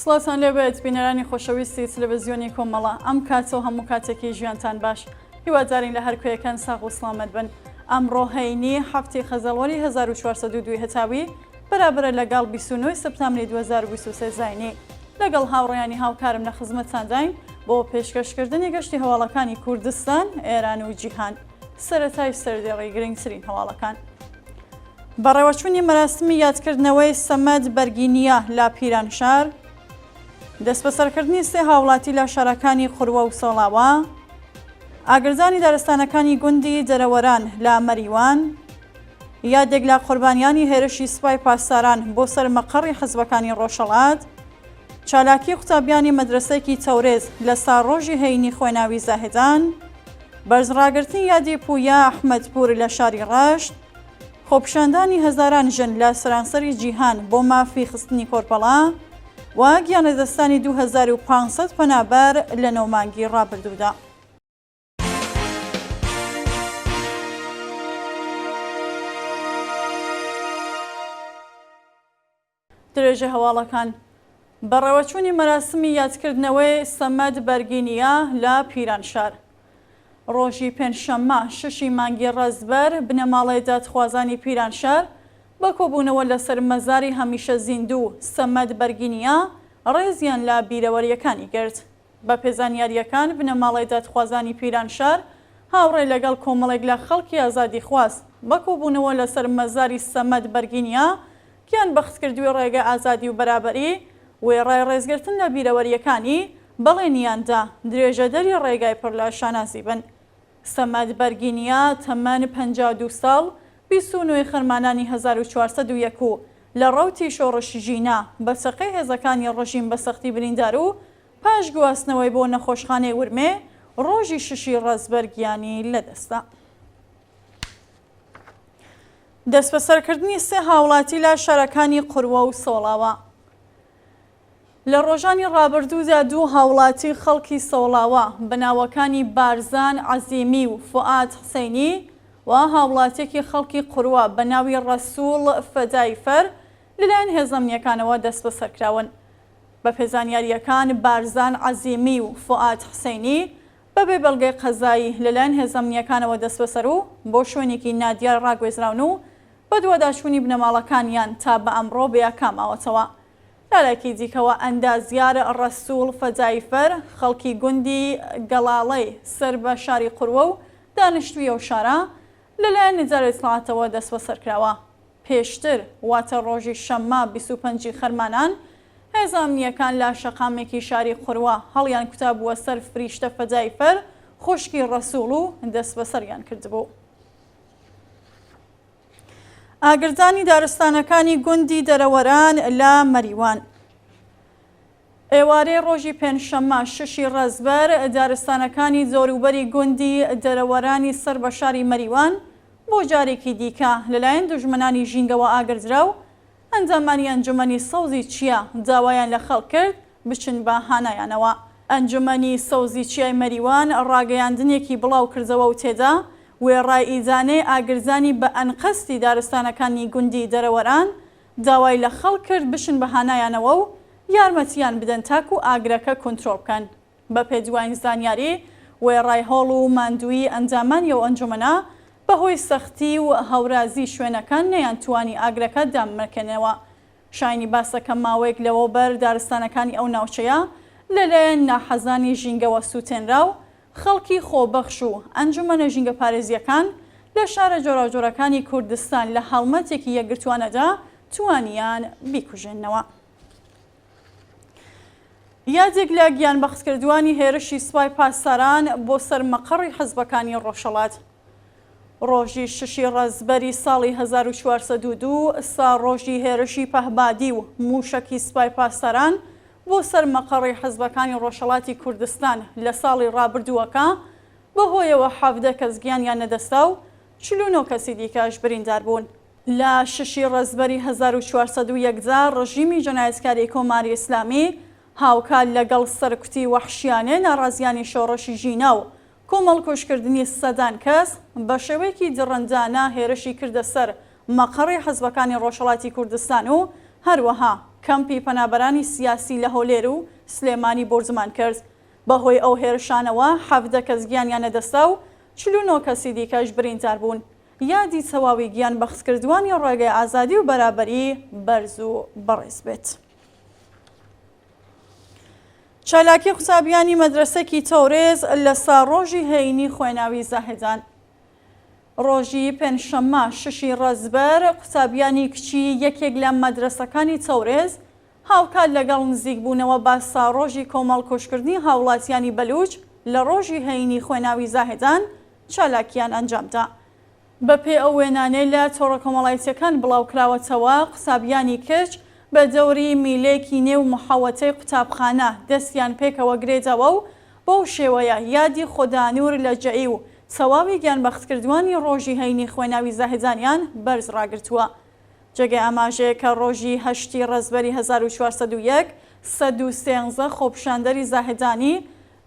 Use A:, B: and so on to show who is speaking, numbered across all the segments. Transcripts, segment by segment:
A: سڵاوتان لێ بێت بینەرانی خۆشەویستی تلەڤزیۆنی کۆمەڵە ئەم کاتەو هەموو کاتێکی ژیانتان باش هیوادارین لە هەر کوێیەکان ساغ و سڵامەت بن ئەمڕۆ هەینی حەفت ی خەزەڵوەری هەزار و چوار سەد و دوو هەتاوی بەرابەرە لەگەڵ بیست و نۆ سەپتامری دوو هەزار و بیست و سێ زاینی لەگەڵ هاوڕێیانی هاوکارم لە خزمەتتانداین بۆ پێشکەشکردنی گەشتی هەواڵەکانی کوردستان، ئێران و جیهان. سەرەتای سەردێڕی گرنگترین هەواڵەکان. بەڕێوەچوونی مەراسمی یادکردنەوەی سەمەد بەرگینیە لە پیرانشار، دەستبەسەرکردنی سێ هاوڵاتی لە شارەکانی قوروە و سۆڵاوا، ئاگردانی دارستانەکانی گوندی دەرەوەران لە مەریوان، یادێک لە قوربانیانی هێرشی سوپای پاسداران بۆ سەر مەقەڕی حزبەکانی ڕۆژهەڵات، چالاکی قوتابیانی مەدرەسەکی تەورێز لە ساڕۆژی هەینی خۆێناوی زاهدان، بەرز ڕاگرتنی یادی پوویا ئەحمەدپوور لە شاری ڕەشت، خۆپیشاندانی هەزاران ژن لە سەرانسەری جیهان بۆ مافی خستنی کۆرپەڵە و گیانلەدەستدانی دوو هەزار و پانسەد پەنابەر لە نۆ مانگی ڕابردوودا. درێژە هەواڵەکان بەڕێوەچوونی مەراسمی یادکردنەوەی سەمەد بەرگینیا لە پیرانشار ڕۆژی پێنجشەممە ششی مانگی ڕزبەر بنەماڵەی دادخوازانی پیرانشار بە کۆبوونەوە لەسەر مەزاری هەمیشە زیندوو سەمەد بەرگینیا ڕێزیان لە بیرەوەریەکانی گرت بەپێ زانیارییەکان، بنەماڵەی دادخوازانی پیرانشار هاوڕێ لەگەڵ کۆمەڵێک لە خەڵکی ئازادیخواز بە کۆبوونەوە لەسەر مەزاری سەمەد بەرگینیا گیان بەختکردووی ڕێگە ئازادی و بەرابەری وێڕای ڕێزگرتن لە بیرەوەرییەکانی بەڵێنییان دا درێژەدەری ڕێگای پڕ لە شانازی بن. سەمەد بەرگینیا تەمەن پەنجا و دوو ساڵ، بیست و نۆ خەرمانانی هەزار و چوار سەد و یەک و لە ڕەوتی شۆڕش ژینا، بە چەقەی هێزەکانی ڕژیم بە سەختی بریندار و پاش گواستنەوەی بۆ نەخۆشخانەی ورمێ، ڕۆژی شەشی ڕەزبەر گیانی لەدەستدا. دەسبەسەرکردنی سێ هاوڵاتی لە شارەکانی قوروە و سۆڵاوا. لە ڕۆژانی ڕابردوودا دوو هاوڵاتی خەڵکی سۆڵاوا بە ناوەکانی بارزان عەزیمی و فوئاد حسەینی و هاوڵاتیەکی خەڵکی قوروە بە ناوی ڕەسوڵ فەدای فەر لەلایەن هێزە ئەمنیەکانەوە دەستبەسەرکراون. بە پێ زانیارییەکان بارزان عەزیمی و فوئاد حسەینی بە بێ بەڵگەی قەزایی لەلایەن هێزە ئەمنیەکانەوە دەستبەسەر و بۆ شوێنێکی نادیار ڕاگوێزراون و بەدواداچوونی بنەماڵەکانیان تا بە ئەمڕۆ بەیاکا ماوەتەوە. لەلایەکی دیکەوە، ئەندازیار ڕەسووڵ فەداییفەر، خەڵکی گوندی گەڵاڵەی سەر بە شاری قوروە و دانیشتووی ئەو شارە، لەلایەن ئیدارەی ئیتڵاعاتەوە دەسبەسەر کراوە. پێشتر، واتە ڕۆژی شەممە بیست و پەنج ی خەرمانان، هێزە ئەمنییەکان لە شەقامێکی شاری قوروە هەڵیانکوتابووە سەر فریشتە فەداییفەر، خوشکی ڕەسووڵ و دەسبەسەریان کردبوو. ئاگردانی دارستانەکانی گوندی دەرەوەران لە مەریوان. ئێوارەی ڕۆژی پێنجشەممە شەشی ڕەزبەر دارستانەکانی دەوروبەری گوندی دەرەوەرانی سەر بە شاری مەریوان بۆ جارێکی دیکە لەلایەن دوژمنانی ژینگەوە ئاگردرا و ئەندامانی ئەنجومەنی سەوزی چیا داوایان لە خەڵک کرد بچن بە هانایانەوە. ئەنجومەنی سەوزی چیای مەریوان ڕاگەیاندنێکی بڵاوکردەوە و تێدا وێڕای ئیدانەی ئاگرزانی بە ئەنقەستی دارستانەکانی گوندی دەرەوەران، داوای لە خەڵک کرد بچن بە هانایانەوە و یارمەتییان بدەن تاکوو ئاگرەکە کونترۆڵ بکەن. بەپێ دواین زانیاری، وێڕای هەوڵ و ماندوویی ئەندامانی ئەو ئەنجومەنە، بەهۆی سەختی و هەورازی شوێنەکە نەیانتوانی ئاگرەکە دامرکێنەوە. شایەنی باسە کە ماوەیەک لەوەوبەر دارستانەکانی ئەو ناوچەیە لەلایەن ناحەزانی ژینگەوە سووتێنرا و خەڵکی خۆبەخش و ئەنجومەنە ژینگەپارێزییەکان لە شارە جۆراوجۆرەکانی کوردستان لە هەڵمەتێکی یەکگرتووانەدا توانیان بیکوژێننەوە. یادێک لە گیانبەختکردووانی هێرشی سوپای پاسداران بۆ سەر مەقەڕی حزبەکانی ڕۆژهەڵات. ڕۆژی ششی ڕەزبەری ساڵی 1402 سا ڕۆژی هێرشی پەهبادی و موشەکی سوپای پاسداران بۆ سەر مەقەڕی حزبەکانی ڕۆژهەڵاتی کوردستان لە ساڵی ڕابردووەکە بەهۆیەوە حەڤدە کەس گیانیان نەدەستا و چل و نۆ کەسی دیکەش بریندار بوون. لە شەشی ڕەزبەری هەزار و چوار سەد و یەک دا ڕژیمی جەنایەتکاری کۆماری ئیسلامی هاوکات لەگەڵ سەرکوتی وەحشیانەی ناڕازیانی شۆڕشی ژینا و کۆمەڵکوژکردنی سەدان کەس، بە شێوەیەکی دڕندانە هێرشی کردە سەر مەقەڕی حزبەکانی ڕۆژهەڵاتی کوردستان و هەروەها کەمپی پەنابەرانی سیاسی لە هەولێر و سلێمانی بۆردومان کرد. بە هۆی ئەو هێرشانەوە حەڤدە کەس گیانیان لەدەستدا و چل و نۆ کەسی دیکەش بریندار بوون. یادی تەواوی گیان بەختکردوانی ڕێگەی ئازادی و بەرابەری بەرز و بەڕێز بێت. چالاکی قوتابیانی مەدرەسەکی تەورێز لە سا ڕۆژی هەینی خوێناوی زاهدان. ڕۆژی پێنجشەممە شەشی ڕەزبەر قوتابیانی کچی یەکێک لە مەدرەسەکانی تەورێز، هاوکات لەگەڵ نزیکبوونەوە بە ساڕۆژی کۆمەڵکوژکردنی هاوڵاتیانی بەلووچ لە ڕۆژی هەینی خوێناوی زاهێدان چالاکییان ئەنجامدا. بەپێی ئەو وێنانەی لە تۆڕە کۆمەڵایتییەکان بڵاوکراوەتەوە، قوتابیانی کچ بە دەوری میلێکی نێو محەوەتەی قوتابخانە دەستیان پێکەوە گرێداوە و بەو شێوەیە یادی خودانوور لەجەئی و تەواوی گیانبەختکردووانی ڕۆژی هەینی خوێناوی زاهێدانیان بەرز ڕاگرتووە. جێگەی ئاماژەیە کە ڕۆژی هەشتی ڕەزبەری هەزار و چوار سەد و یەک سەد و سێنزە خۆپیشاندەری زاهدانی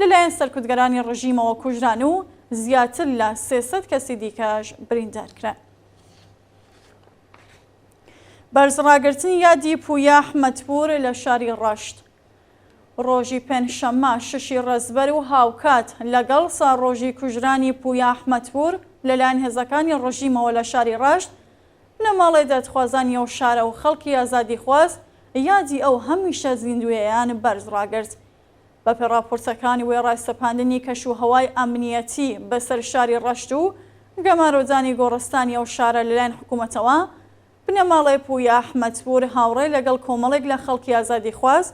A: لەلایەن سەرکوتگەرانی ڕژیمەوە کوژران و زیاتر لە سێ سەد کەسی دیکەش بریندار کران. بەرزڕاگرتنی یادی پوویا ئەحمەدپوور لە شاری ڕەشت ڕۆژی پێنجشەممە شەشی ڕەزبەر و هاوکات لەگەڵ ساڵڕۆژی کوژرانی پوویا ئەحمەدپوور لەلایەن هێزەکانی ڕژیمەوە لە شاری ڕەشت بنەماڵەی دادخوازانی ئەو شارە و خەڵکی ئازادیخواز یادی ئەو هەمیشە زیندوویەیان بەرز ڕاگرت. بەپێ ڕاپۆرتەکانی وێڕای سەپاندنی کەش و هەوای ئەمنییەتی بەسەر شاری ڕەشت و گەمارۆدانی گۆڕستانی ئەو شارە لەلایەن حکوومەتەوە، بنەماڵەی پوویا ئەحمەدپوور هاوڕێ لەگەڵ کۆمەڵێک لە خەڵکی ئازادیخواز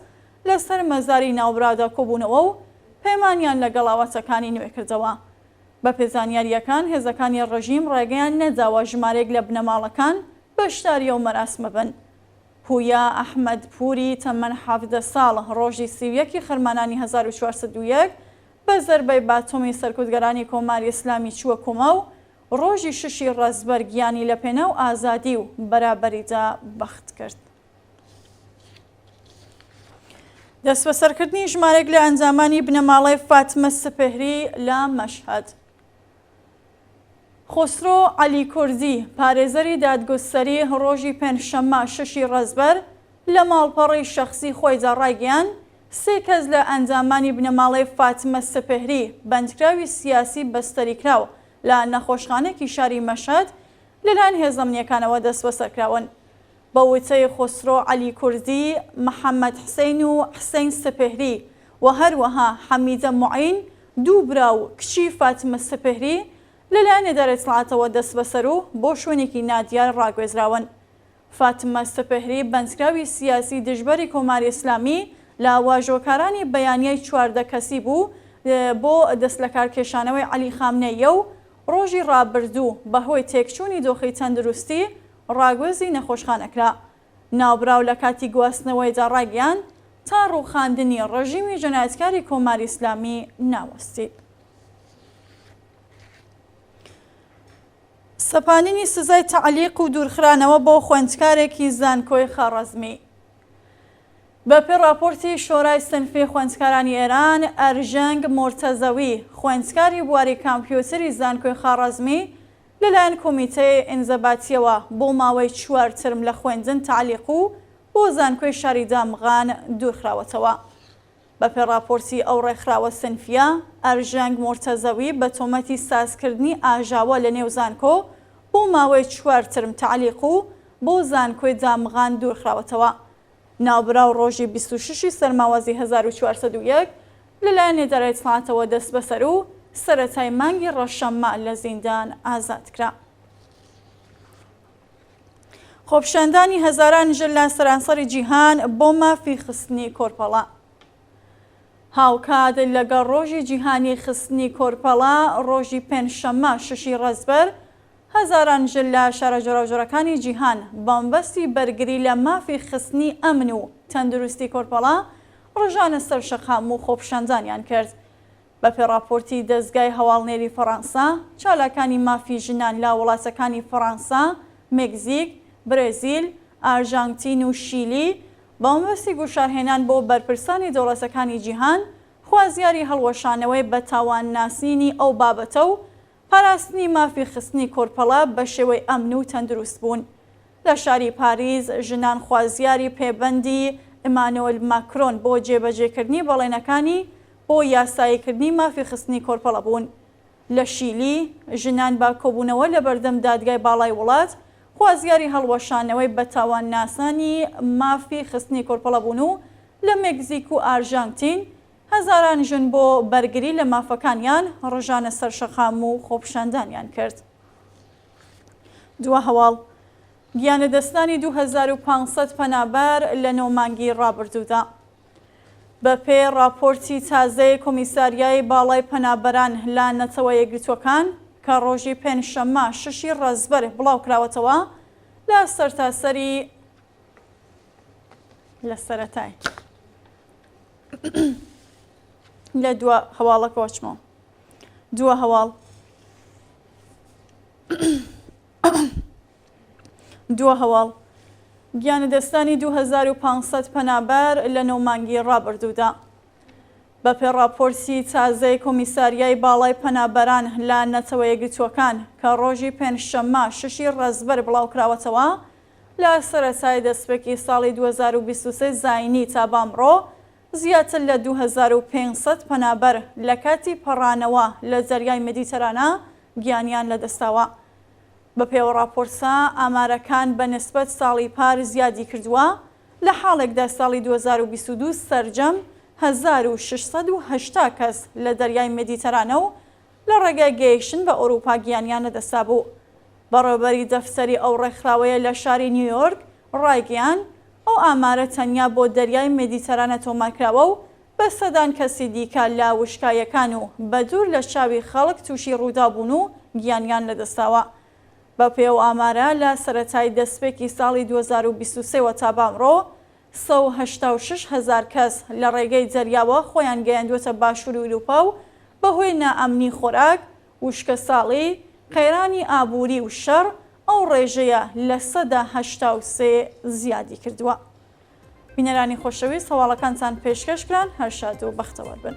A: لەسەر مەزاری ناوبراودا کۆبوونەوە و پەیمانیان لەگەڵ ئاواتەکانی نوێکردەوە. بەپێ زانیارییەکان، هێزەکانی ڕژیم ڕێگەیان نەداوە ژمارێک لە بنەماڵەکان بەشداری ئەو مەراسمە بن. پوویا ئەحمەد پووری تەمەن حەڤدە ساڵ، ڕۆژی سی و یەک ی خەرمانانی هەزار و چوار سەد و یەک بە زەربەی باتۆمی سەرکوتگەرانی کۆماری ئیسلامی چووە کۆما و ڕۆژی شەش ی ڕەزبەر گیانی لەپێناو ئازادی و بەرابەریدا بەخت کرد. دەستبەسەرکردنی ژمارێک لە ئەنجامانی بنەماڵەی فاتمە سپهری لە مەشهد خۆسرۆ علی کوردی پارێزەری دادگوستەری ڕۆژی پێنجشەممە شەشی ڕەزبەر لە ماڵپەڕی شەخصی خۆیدا ڕایگەیان سێ کەس لە ئەنجامانی بنەماڵەی فاتمە سپهری بەندکراوی سیاسی بەستەری کراو لە نەخۆشخانێکی شاری مەشهد لەلایەن هێزەمنیەکانەوە دەستبەسەرکراون بە وتەی خۆسرۆ عەلی کوردی، محەمەد حسەین و حسەین سپهری و هەروەها حەمیدە موعین، دوو برا و کچی فاتمە سپهری لەلایەن ئیدارەی ئیتلاعاتەوە دەستبەسەر و بۆ شوێنێکی نادیار ڕاگوێزراون. فاتمە سپهری بەندکراوی سیاسی دژبەری کۆماری ئیسلامی لە واژۆکارانی بەیانیای چواردە کەسی بوو بۆ دەستلەکارکێشانەوەی عەلی خامنەییە و ڕۆژی ڕابردوو بەهۆی تێکچوونی دۆخی تەندروستی ڕاگوێزی نەخۆشخانە کرا. ناوبراو لە کاتی گواستنەوەیدا ڕایگەیاند، تا ڕووخاندنی ڕێژیمی جەنایەتکاری کۆماری ئیسلامی ناوەستێت. سەپاندنی سزای تەعلیق و دوورخرانەوە بۆ خوێندکارێکی زانکۆی خواڕەزمی. بەپێی ڕاپۆرتی شۆرای سنفی خوێندکارانی ئێران، ئەرژەنگ مورتەزەوی، خوێندکاری بواری کامپیوتری زانکۆی خواڕەزمی، لەلایەن کۆمیتەی ئینزەباتیەوە بۆ ماوەی چوار ترم لە خوێندن تەعلیق و بۆ زانکۆی شاری دامغان دوورخراوەتەوە. بەپێ ڕاپۆرتی ئەو ڕێکخراوە سنفییە، ئەرژەنگ مورتەزەوی بە تۆمەتی سازکردنی ئاژاوە لە نێو زانکۆ بۆ ماوەی چوار ترم تەعلیق و بۆ زانکۆی دامغان دوورخراوەتەوە ناوبراو ڕۆژی بیست و شەش ی سەرماوازی هەزار و چوار سەد و یەک لەلایەن ئیدارەی سەعاتەوە دەستبەسەر و سەرەتای مانگی ڕەشە مە لە زیندان ئازاد کرا. خۆپیشاندانی هەزاران ژن لە سەرانسەری جیهان بۆ مافی خستنی کۆرپەڵە هاوکات لەگەڵ ڕۆژی جیهانی خستنی کۆرپەڵە، ڕۆژی پێنجشەممە شەشی ڕەزبەر، هەزاران ژن لە شارە جۆراوجۆرەکانی جیهان بەمەبەستی بەرگری لە مافی خستنی ئەمن و تەندروستی کۆرپەڵە ڕژانە سەر شەقام و خۆپیشاندانیان کرد. بەپێ ڕاپۆرتی دەزگای هەواڵنێری فەڕانسە، چالاکانی مافی ژنان لە وڵاتەکانی فەڕانسە، مێکزیک، برێزیل، ئارژانتین و شیلی بەمەبەستی گوشارهێنان بۆ بەرپرسانی دەوڵەتەکانی جیهان خوازیاری هەڵوەشانەوەی بەتاوان ناسینی ئەو بابەتە و پاراستنی مافی خستنی کۆرپەڵە بە شێوەی ئەمن و تەندروست بوون لە شاری پاریس ژنان خوازیاری پێبەندی ئیمانۆل ماکرۆن بۆ جێبەجێکردنی بەڵێنەکانی بۆ یاساییکردنی مافی خستنی کۆرپەڵە بوون لە شیلی ژنان بە کۆبوونەوە لە بەردەم دادگای باڵای وڵات خوازیاری هەڵوەشانەوەی بە تاوان ناسانی مافی خستنی کۆرپەڵە بوون و لە مێکزیک و ئارژانتین هەزاران ژن بۆ بەرگری لە مافەکانیان ڕژانە سەر شەقام و خۆپیشاندانیان کرد. دووا هەواڵ، گیانلەدەستدانی دوو هەزار و پێنج سەد پەنابەر لە نۆ مانگی ڕابردوودا. بەپێ ڕاپۆرتی تازەی کۆمیساریای باڵای پەنابەران لە نەتەوە یەکگرتووەکان کە ڕۆژی پێنج شەممە شەش ی ڕەزبەر بڵاو کراوەتەوە لە سەرتاسەری لە سەرەتای. لە دووە هەواڵەکەەوە چمەوە دووە هەواڵ دووە هەواڵ گیانە دەستانی 2500 پەنابەر لە نۆمانگی ڕابردوودا بە پێڕاپۆرسی تازەی کۆمیساریای باڵای پەنابەران لە نەتەوە یەگرتووەکان کە ڕۆژی پێنجشەممە ششی ڕێزبەر بڵاوکراوەتەوە لە سەرەتای دەستپێکی ساڵی دوو هەزار و بیست و سێ زاینی تا بامڕۆ، زیاتر لە دوو هەزار و پێنج سەد پەنابەر لە کاتی پەڕانەوە لە زەریای مێدیتەرانە گیانیان لەدەستداوە. بەپێوە ڕاپۆرتە، ئامارەکان بە نسبەت ساڵی پار زیادی کردووە، لە حاڵێکدا ساڵی دوو هەزار و بیست و دوو سەرجەم هەزار و شەش سەد و هەشتا کەس لە دەریای مێدیتەرانە و لە ڕێگای گەیشتن بە ئەوروپا گیانیان لەدەستدابوو. بەڕێوەبەری دەفتەری ئەو ڕێکخراوەیە لە شاری نیویۆرک ڕایگەیاند، ئەو ئامارە تەنیا بۆ دەریای مێدیتەرانە تۆمارکراوە و بە سەدان کەسی دیکە لە وشکایەکان و بەدوور لە چاوی خەڵک تووشی ڕووداو بوون و گیانیان لەدەستداوە. بەپێی ئەو ئامارە لە سەرەتای دەستپێکی ساڵی دوو هەزار و بیست و سێ وە تا بەئەمڕۆ سەد و هەشتا و شەش هەزار کەس لە ڕێگەی زەریاوە خۆیان گەیاندووەتە باشووری ئورووپا و بەهۆی نائەمنی خۆراک، وشکەساڵی، قەیرانی ئابووری و شەڕ ئەو ڕێژەیە لە سەدا هەشتا و سێ زیادی کردووە. بینەرانی خۆشەویست هەواڵەکانتان پێشکەش کران هەر شاد و بەختەوەر بن.